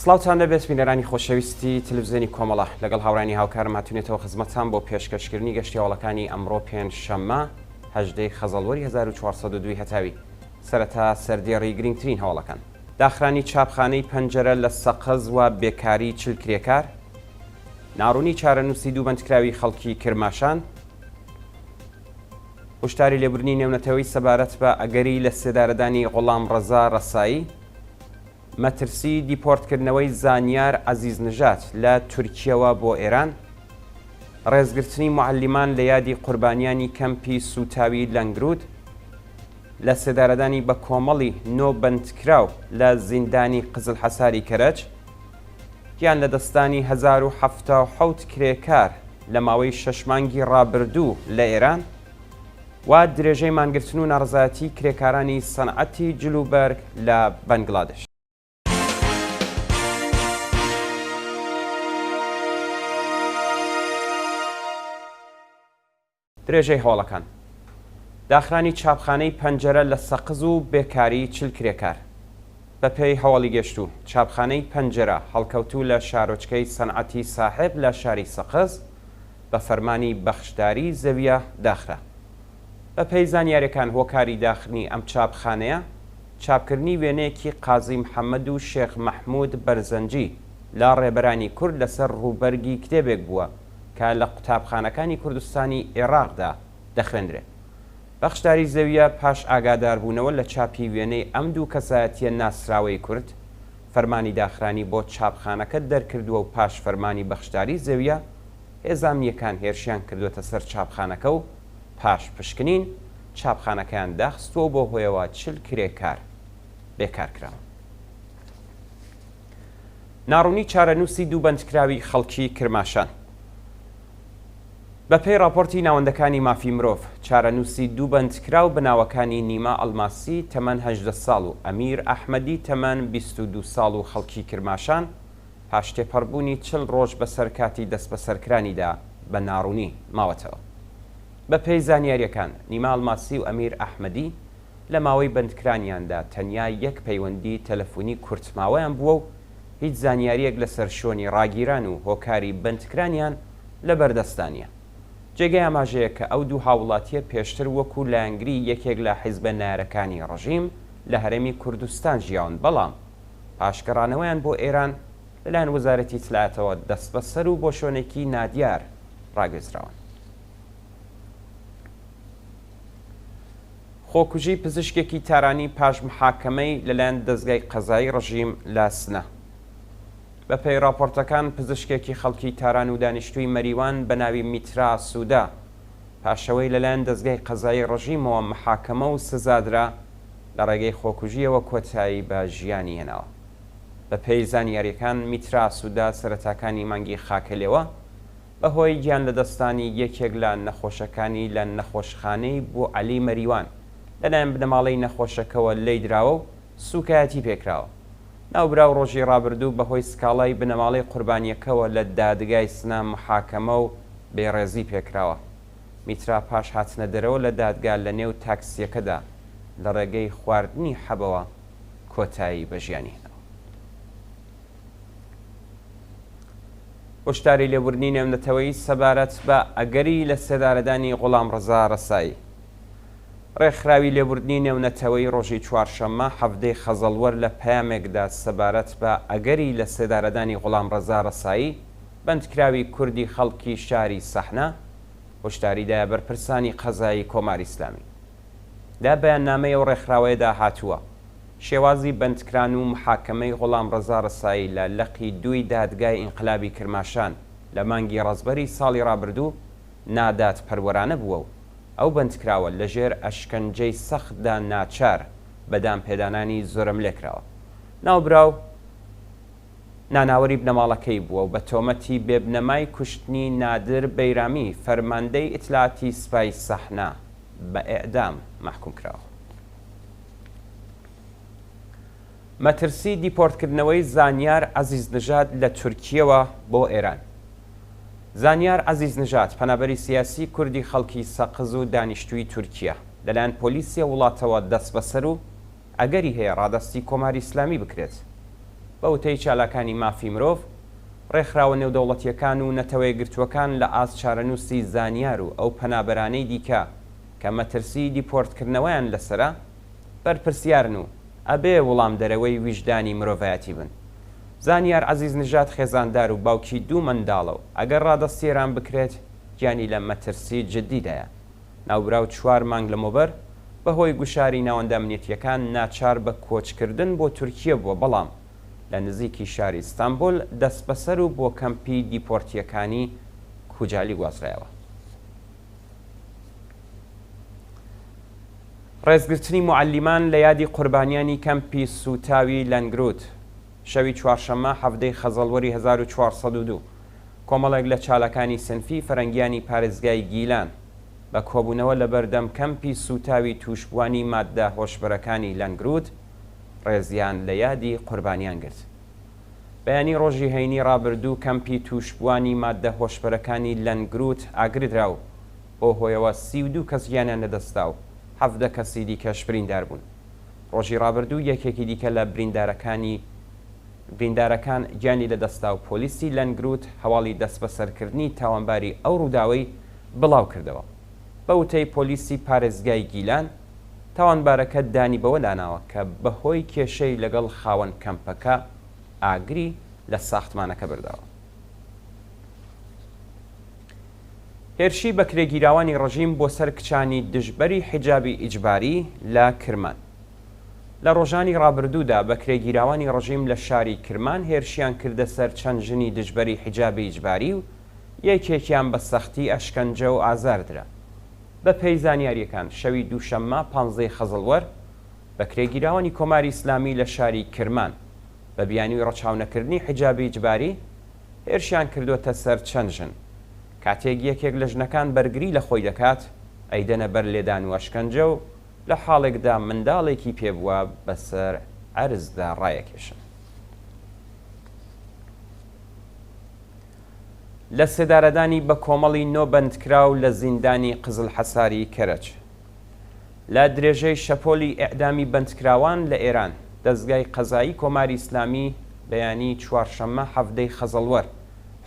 سڵاوتان لەبێت بینەرانی خۆشەویستی تەلەفزیۆنی کۆمەڵە، لەگەڵ هاوڕێیانی هاوکارم هاتوینەتەوە خزمەتتان بۆ پێشکەشکردنی گەشتی هەواڵەکانی ئەمڕۆ پێنج شەممە هەژدە ی خەزەڵوەری هەزار و چوار سەد و دوو هەتاوی سەرەتا سەردێڕی گرنگترین هەواڵەکان. داخرانی چاپخانەی پەنجەرە لە سەقز و بێکاری چل کرێکار، ناڕوونی چارەنووسی دوو بەندکراوی خەڵکی کرماشان، هوشداری لێبوردنی نێونەتەوەی سەبارەت بە ئەگەری لەسێدارەدانی غوڵامڕەزا ڕەسایی، مەترسی دیپۆرتکردنەوەی زانیار عەزیز نژاد لە تورکیەوە بۆ ئێران، ڕێزگرتنی موعەلیمان لە یادی قوربانیانی کەمپی سووتاوی لەنگروود، لەسێدارەدانی بە کۆمەڵی نۆ بەندکراو لە زیندانی قزلحەساری کەرەج، گیان لەدەستدانی هەزار و حەفتا و حەوت کرێکار لە ماوەی شەش مانگی ڕابردوو لە ئێران، و درێژەی مانگرتن و ناڕەزایەتی کرێکارانی سەنعەتی جل و بەرگ لە بەنگلادش. درێژەی هەواڵەکان داخرانی چاپخانەی پەنجەرە لە سەقز و بێکاری چل کرێکار بەپێی هەواڵی گەشتوو چاپخانەی پەنجەرە هەڵکەوتوو لە شارۆچکەی سەنعەتی ساحێب لە شاری سەقز بە فەرمانی بەخشداری زەویە داخرا. بە پێی زانیاریەکان هۆکاری داخنی ئەم چاپخانەیە چاپکردنی وێنەیەکی قازی محەمەد و شێخ مەحمود بەرزەنجی لە ڕێبەرانی کورد لەسەر ڕووبەرگی کتێبێک بووە کە لە قوتابخانەکانی کوردستانی ئێڕاقدا دەخوێندرێ. بەخشداری زەویە پاش ئاگاداربوونەوە لە چاپی وێنەی ئەم دوو کەسایەتیە ناسراوەی کورد، فەرمانی داخرانی بۆ چاپخانەکە دەرکردووە و پاش فەرمانی بەخشداری زەویە هێزە ئەمنییەکان هێرشیان کردووەتە سەر چاپخانەکە و پاش پشکنین چاپخانەکەیان داخستووە و بەو هۆیەوە چل کرێکار بێکار کراون. ناڕوونی چارەنووسی دوو بەندکراوی خەڵکی کرماشان. بەپێی ڕاپۆرتی ناوەندەکانی مافی مرۆڤ، چارەنووسی دوو بەندکراو بە ناوەکانی نیما ئەڵماسی تەمەن هەژدە ساڵ و ئەمیر ئەحمەدی تەمەن بیست و دوو ساڵ و خەڵکی کرماشان پاش تێپەڕبوونی چل ڕۆژ بەسەر کاتی دەستبەسەرکرانیدا بە ناڕوونی ماوەتەوە. بەپێی زانیارییەکان، نیما ئەڵماسی و ئەمیر ئەحمەدی لە ماوەی بەندکرانیاندا تەنیا یەک پەیوەندی تەلەفونی کورتماوەیان بووە و هیچ زانیارییەک لەسەر شۆنی ڕاگیران و هۆکاری بەندکرانیان لەبەردەستدا نییە. جێگەی ئاماژەیە کە ئەو دوو هاووڵاتییە پێشتر وەکوو لایەنگری یەکێک لە حیزبە نارەکانی ڕژیم لە هەرێمی کوردستان ژیاون بەڵام پاش گەڕانەوەیان بۆ ئێران لەلایەن وەزارەتی ئیتلاعاتەوە دەستبەسەر و بۆ شۆنێکی نادیار ڕاگوێزراون. خۆکوژی پزیشکێکی تارانی پاش محاکەمەی لەلایەن دەزگای قەزایی ڕژیم لە سنە. بەپێی ڕاپۆرتەکان پزیشکێکی خەڵکی تاران و دانیشتووی مەریوان بە ناوی میترا سوودا، پاشەوەی لەلایەن دەزگای قەزایی ڕژیمەوە محاکەمە و سزادرا، لە ڕێگەی خۆکوژییەوە کۆتایی بە ژیانی هێناوە. بەپێی زانیارییەکان میترا سوودا سەرەتاکانی مانگی خاکەلێوە، بەهۆی گیان لەدەستدانی یەکێک لە نەخۆشەکانی لە نەخۆشخانەی بوعەلی مەریوان لەلایەن بنەماڵەی نەخۆشەکەوە لێیدراوە و سووکایەتی پێکراوە. ناوبراو ڕۆژی ڕابردوو بەهۆی سکاڵای بنەماڵەی قوربانییەکەوە لە دادگای سنە محاکەمە و بێڕێزی پێکراوە. میترا پاش هاتنەدەرەوە لە دادگا لەنێو تاکسییەکەدا لەڕێگەی خواردنی حەبەوە کۆتایی بە ژیانی هێناوە. هۆشداری لێبوردنی نێونەتەوەیی سەبارەت بە ئەگەری لە سێدارەدانی غوڵام ڕەزا ڕەسایی ڕێکخراوی لێبوردنی نێونەتەوەی ڕۆژی چوارشەممە حەڤدەی خەزەڵوەر لە پەیامێکدا سەبارەت بە ئەگەری لە سێدارەدانی غوڵام ڕەزا ڕەسایی بەندکراوی کوردی خەڵکی شاری سەحنە هۆشداری دایە بەرپرسانی قەزایی کۆماری ئیسلامی لە بەیاننامەی ئەو ڕێکخراوەیەدا هاتووە شێوازی بەندکران و محاکەمەی غوڵامڕەزا ڕسایی لە لقی دووی دادگای ئینقلابی کرماشان لە مانگی ڕەزبەری ساڵی ڕابردوو نادادپەروەرانە بووە و ئەو بەندکراوە لەژێر ئەشکەنجەی سەختدا ناچار بە دانپێدانانی زۆرەملێ کراوە. ناوبراو ناناوەری بنەماڵەکەی بووە و بە تۆمەتی بێبنەمای کوشتنی نادر بەیرامی فەرماندەی ئیتلاعاتی سپای سەحنە بە ئێعدام مەحکووم کراوە. مەترسی دیپۆرتکردنەوەی زانیار عەزیز نژاد لە تورکیەوە بۆ ئێران زانیار عەزیز نژاد پەنابەری سیاسی کوردی خەڵکی سەقز و دانیشتووی تورکیا لەلایەن پۆلیسیە وڵاتەوە دەست بەسەر و ئەگەری هەیە ڕادستی کۆماری ئسلامی بکرێت بە وتەی چالاکانی مافی مرۆڤ ڕێکخراوە نێودەوڵەتیەکان و نەتەوەیەگرتووەکان لە ئاست چارەنووسی زانیار و ئەو پەنابەرانەی دیکە کە مەترسی دیپۆرتکردنەوەیان لەسەرە، بەرپرسیارن و ئەبێ وڵامدەرەوەی ویژدانی مرۆڤایەتی بن. زانیار عەزیز نژاد خێزاندار و باوکی دوو منداڵە و ئەگەر ڕادەستی ئێران بکرێت گیانی لە مەترسی جددیدایە. ناوبراو چوار مانگ لەمەوبەر بە هۆی گوشاری ناوەندە ئەمنیەتییەکان ناچار بە کۆچکردن بۆ تورکیە بووە بەڵام لە نزیکی شاری ئیستانبول دەستبەسەر و بۆ کەمپی دیپۆرتییەکانی کوجالی گوازرایەوە. ڕێزگرتنی معلیمان لە یادی قوربانیانی کەمپی سوتاوی لەنگروت شەوی چوارشەممە حەفتەی خەزەڵوەری 1940 کۆمەڵێک لە چالەکانی سنفی فەرەنگیانی پارێزگای گیلان بە کۆبوونەوە لە بەردەم کەمپی سوتاوی تووشبوانی ماددە هۆشبەرەکانی لەنگروت ڕێزیان لە یادی قوربانیان گرت. بەیانی ڕۆژی هەینی ڕابردوو کەمپی تووشبووانی ماددە هۆشبەرەکانی لەنگروت ئاگردرا و بەو هۆیەوە سی و دوو کەس گیانیان لەدەستدا و حەڤدە کەسی دیکەش بریندار بوون. ڕۆژی ڕابردوو یەکێکی دیکە لە بریندارەکانی بریندارەکان گیانی لەدەستدا و پۆلیسی لەنگروت هەواڵی دەستبەسەرکردنی تاوانباری ئەو ڕووداوەی بڵاوکردەوە. بە وتەی پۆلیسی پارێزگای گیلان، تاوانبارەکە دانی بەوە لاناوە کە بەهۆی کێشەی لەگەڵ خاوەن کەمپەکە ئاگری لە ساختمانەکە بەرداوە. هێرشی بەکرێگیراوانی ڕژیم بۆ سەر کچانی دژبەری حیجابی ئیجباری لە کرمان لە ڕۆژانی ڕابردوودا بەکرێگیراوانی ڕژیم لە شاری کرمان هێرشیان کردە سەر چەند ژنی دژبەری حیجابی ئیجباری و یەکێکیان بە سەختی ئەشکەنجە و ئازاردرا. بەپێی زانیارییەکان، شەوی دووشەممە پانزە ی خەزڵوەر، بەکرێگیراوانی کۆماری ئیسلامی لە شاری کرمان، بە بیانووی ڕەچاونەکردنی حیجابی ئیجباری، هێرشیان کردووەتە سەر چەند ژن. کاتێک یەکێک لە ژنەکان بەرگری لە خۆی دەکات، ئەیدەنە بەر لێدان و ئەشکەنجە و لە حاڵێکدا منداڵێکی پێ بووە بەسەر عەرزدا ڕایەکێشن. لە سێدارەدانی بە کۆمەڵی نۆ بەندکراو لە زیندانی قزلحەساری کەرەج. لە درێژەی شەپۆلی ئێعدامی بەندکراوان لە ئێران، دەزگای قەزایی کۆماری ئیسلامی بەیانی چوارشەممە حەڤدەی خەزەڵوەر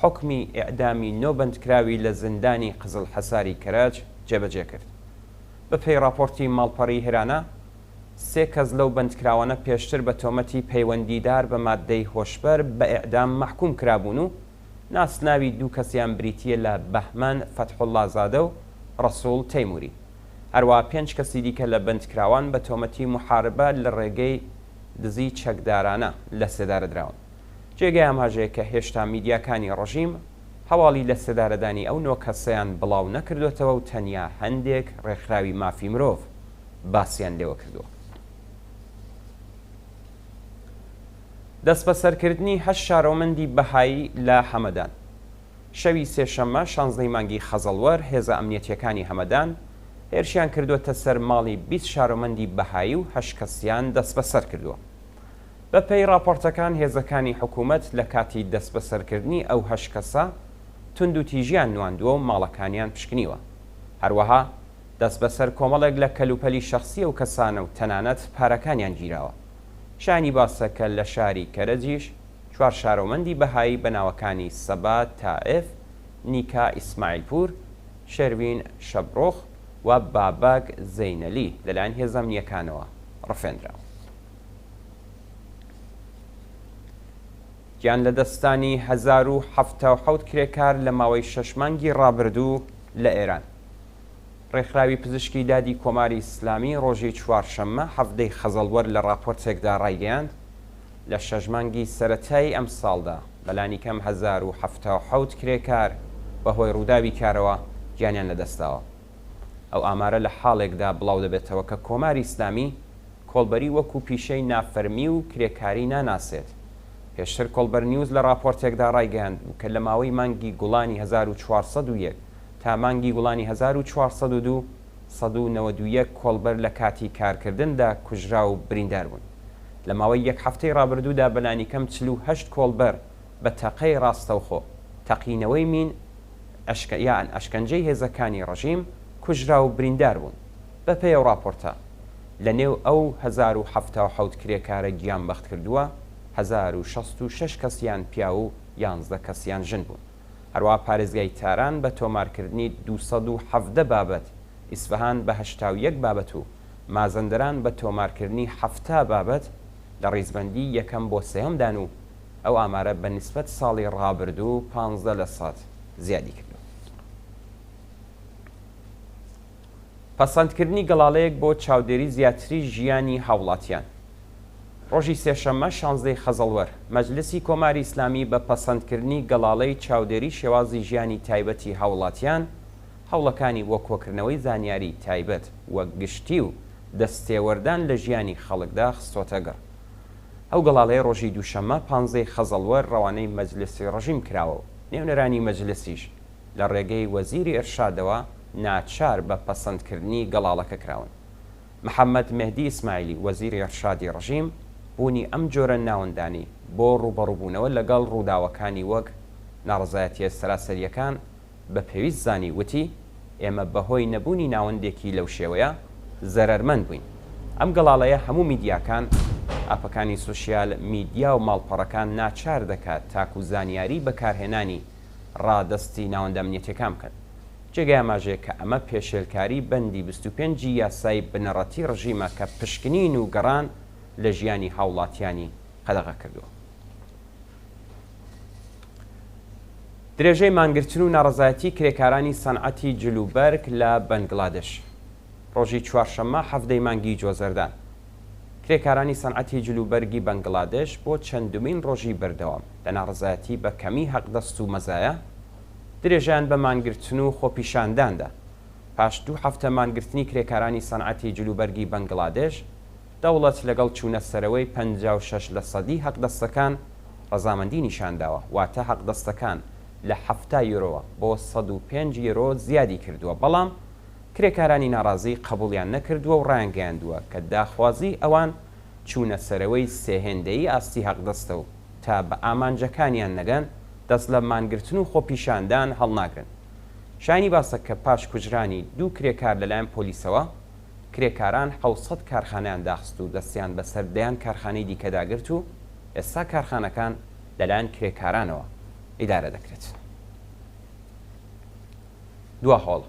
حوکمی ئێعدامی نۆ بەندکراوی لە زیندانی قزلحەساری کەرەج جێبەجێ کرد. بە پێی ڕاپۆرتی ماڵپەڕی هێرانا، سێ کەس لەو بەندکراوانە پێشتر بە تۆمەتی پەیوەندیدار بە ماددەی هۆشبەر بە ئێعدام مەحکووم کرابوون و ناسناوی دوو کەسیان بریتییە لە بەهمەن فەتحوڵڵازادە و ڕەسووڵ تەیمووری. هەروەها پێنج کەسی دیکە لە بەندکراوان بە تۆمەتی موحاربە لە ڕێگەی دزی چەکدارانە لە سێدارە دراون. جێگای ئاماژەیە کە هێشتا میدیاکانی ڕژیم هەواڵی لە سێدارەدانی ئەو نۆ کەسەیان بڵاو نەکردۆتەوە و تەنیا هەندێک ڕێکخراوی مافی مرۆڤ، باسیان لێوە کردووە. دەستبەسەرکردنی هەشت شارۆمەندی بەهایی لە هەمەدان شەوی سێشەممە شانزدەی مانگی خەزەڵوەر هێزە ئەمنیەتیەکانی هەمەدان هێرشیان کردووەتە سەر ماڵی بیست شارۆمەندی بەهایی و هەشت کەسیان دەستبەسەر کردووە. بەپێی ڕاپۆرتەکان هێزەکانی حکوومەت لە کاتی دەستبەسەرکردنی ئەو هەشت کەسە توندوتیژیان نواندووە و ماڵەکانیان پشکنیوە. هەروەها دەستبەسەر کۆمەڵێک لە کەلوپەلی شەخسی ئەو کەسانە و تەنانەت پارەکانیان گیراوە. شایانی باسە کە لە شاری کەرەجیش چوار شارۆمەندی بەهایی بە ناوەکانی سەبا تائف، نیکا ئیسماعیلپوور، شێرڤین شەبڕۆخ و بابەک زەینەلی لەلایەن هێزە ئەمنییەکانەوە ڕفێندراون. گیانلەدەستدانی هەزار و حەفتا و حەوت کرێکار لە ماوەی شەش مانگی ڕابردوو لە ئێران. ڕێکخراوی پزیشکی دادی کۆماری ئیسلامی ڕۆژی چوارشەممە حەڤدەی خەزەڵوەر لە ڕاپۆرتێکدا ڕایگەیاند، لە شەش مانگی سەرەتایی ئەمساڵدا بەلانیکەم هەزار و حەفتا و حەوت کرێکار بەهۆی ڕووداوی کارەوە گیانیان لەدەستداوە. ئەو ئامارە لە حاڵێکدا بڵاودەبێتەوە کە کۆماری ئیسلامی کۆڵبەری وەکو پیشەی نافەرمی و کرێکاری ناناسێت. پێشتر کۆڵبەرنیوز لە ڕاپۆرتێکدا ڕایگەیاندبوو کە لە ماوەی مانگی گوڵانی هەزار و چوار سەد و یەک تا مانگی گوڵانی هەزار و چوار سەد و دوو، سەد و نەوەد و یەک کۆڵبەر لە کاتی کارکردندا کوژرا و بریندار بوون. لە ماوەی یەک هەفتەی ڕابردوودا بەلانیکەم چل و هەشت کۆڵبەر بە تەقەی ڕاستەوخۆ، تەقینەوەی مین، ئەشکە یان ئەشکەنجەی هێزەکانی ڕژیم کوژرا و بریندار بوون. بە پێی ئەو ڕاپۆرتە، لە نێو ئەو هەزار و حەفتا و حەوت کرێکارە گیانبەختکردووە، هەزار و شەست و شەش کەسیان پیاو و یانزدە کەسیان ژن بوون. هەروەها پارێزگای تاران بە تۆمارکردنی دوو سەد و حەڤدە بابەت، ئیسفەهان بە هەشتا و یەک بابەت و مازەندەران بە تۆمارکردنی حەفتا بابەت لە ڕیزبەندی یەکەم بۆ سێیەمدان و ئەو ئامارە بە نیسبەت ساڵی ڕابردوو پازدە لە سەد زیادی کردووە. پەسەندکردنی گەڵاڵەیەک بۆ چاودێری زیاتری ژیانی هاوڵاتیان. ڕۆژی سێشەممە شانزدە ی خەزەڵوەر، مەجلسی کۆماری ئیسلامی بە پەسەندکردنی گەڵاڵەی چاودێری شێوازی ژیانی تایبەتی هاوڵاتیان، هەوڵەکانی بۆ کۆکردنەوەی زانیاری تایبەت و گشتی و دەستێوەردان لە ژیانی خەڵکدا خستۆتەگەڕ. ئەو گەڵاڵەیە ڕۆژی دووشەممە پانزدە ی خەزەڵوەر ڕەوانەی مەجلسی ڕژیم کراوە و نێونەرانی مەجلسیش، لە ڕێگەی وەزیری ئیرشادەوە ناچار بە پەسەندکردنی گەڵاڵەکە کراون. محەممەد مێهدی ئیسماعیلی، وەزیری ئیرشادی ڕژیم، بوونی ئەم جۆرە ناوەندانی بۆ ڕووبەڕووبوونەوە لەگەڵ ڕووداوەکانی وەک ناڕەزایەتییە سەراسەرییەکان بە پێویست زانی، وتی، ئێمە بەهۆی نەبوونی ناوەندێکی لەو شێوەیە زەرەرمەند بووین. ئەم گەڵاڵەیە هەموو میدیاکان، ئاپەکانی سۆشیال میدیا و ماڵپەڕەکان ناچار دەکات تاکوو زانیاری بەکارهێنانی ڕادەستی ناوەندە ئەمنیەتییەکان بکەن. جێگای ئاماژەیە کە ئەمە پێشێلکاری بەندی بیست و پێنج ی یاسای بنەڕەتیی ڕژیمە کە پشکنین و گەڕان لە ژیانی هاوڵاتییانی قەدەغە کردووە. درێژەی مانگرتن و ناڕەزایەتیی کرێکارانی سەنعەتی جلوبەرگ لە بەنگلادێش. ڕۆژی چوارشەممە حەڤدە ی مانگی جۆزەردان، کرێکارانی سەنعەتی جلوبەرگی بەنگلادێش بۆ چەندمین ڕۆژی بەردەوام لە ناڕەزایەتی بە کەمیی هەقدەست و مەزایا، درێژەیان بە مانگرتن و خۆپیشاندان دا. پاش دوو هەفتە مانگرتنی کرێکارانی سەنعەتی جلوبەرگی بەنگلادێش، دەوڵەت لەگەڵ چوونە سەرەوەی پەنجا و شەش لەسەدی هەقدەستەکان ڕەزامەندی نیشان داوە، واتە هەقدەستەکان لە حەفتا یۆرۆوە بۆ سەد و پێنج یۆرۆ زیادی کردووە، بەڵام کرێکارانی ناڕازی قەبوڵیان نەکردووە و ڕایانگەیاندووە کە داخوازی ئەوان چوونە سەرەوەی سێ هێندەیی ئاستی هەقدەستە و تا بە ئامانجەکانیان نەگەن دەست لە مانگرتن و خۆپیشاندان هەڵناگرن شایانی باسە کە پاش کوژرانی دوو کرێکار لەلایەن پۆلیسەوە کرێکاران حەوت سەد کارخانەیان داخست و دەستیان بەسەر دەیان کارخانەی دیکەدا گرت و ئێستا کارخانەکان لەلایەن کرێکارانەوە ئیدارە دەکرێت. دوا هۆڵ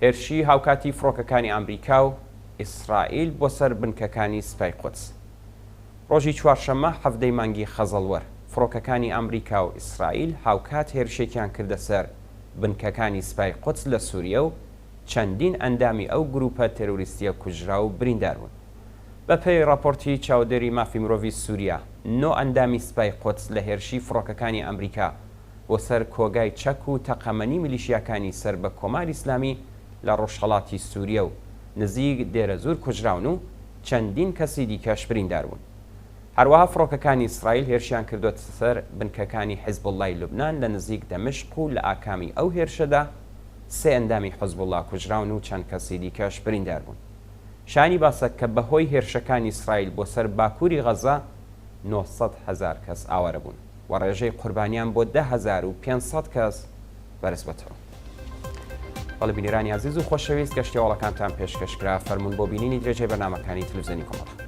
هێرشی هاوکاتی فڕۆکەکانی ئامریکا و ئیسرائیل بۆ سەر بنکەکانی سپای قودس. ڕۆژی چوارشەممە حەڤدە ی مانگی خەزەڵوەر، فڕۆکەکانی ئامریکا و ئیسرائیل هاوکات هێرشێکیان کردە سەر بنکەکانی سپای قودس لە سووریە و چەندین ئەندامی ئەو گرووپە تێرۆریستییە کوژرا و بریندار بوون. بە پێی ڕاپۆرتی چاودێری مافی مرۆڤی سووریە، نۆ ئەندامی سپای قودس لە هێرشی فڕۆکەکانی ئامریکا بۆ سەر کۆگای چەک و تەقەمەنی میلیشیاکانی سەر بە کۆماری ئیسلامی لە ڕۆژهەڵاتی سووریە و نزیک دێرەزوور کوژراون و چەندین کەسی دیکەش بریندار بوون. هەروەها فڕۆکەکانی ئیسرائیل هێرشیان کردووەتە سەر بنکەکانی حیزبوڵڵای لوبنان لە نزیک دەمشق و لە ئاکامی ئەو هێرشەدا سێ ئەندامی حزبوڵڵا کوژراون و چەند کەسی دیکەش بریندار بوون. شایانی باسە کە بەهۆی هێرشەکانی ئیسرائیل بۆ سەر باکووری غەززە نۆ سەد هەزار کەس ئاوارە بوون. و ڕێژەی قوربانیان بۆ دە هەزار و پێنج سەد کەس بەرزبۆتەوە. بەڵێ بینەرانی ئازیز و خۆشەویست گەشتی هەواڵەکانتان پێشکەشکرا فەرموون بۆ بینینی درێژەی بەرنمەکانی تلوزیۆنی کۆمەڵ.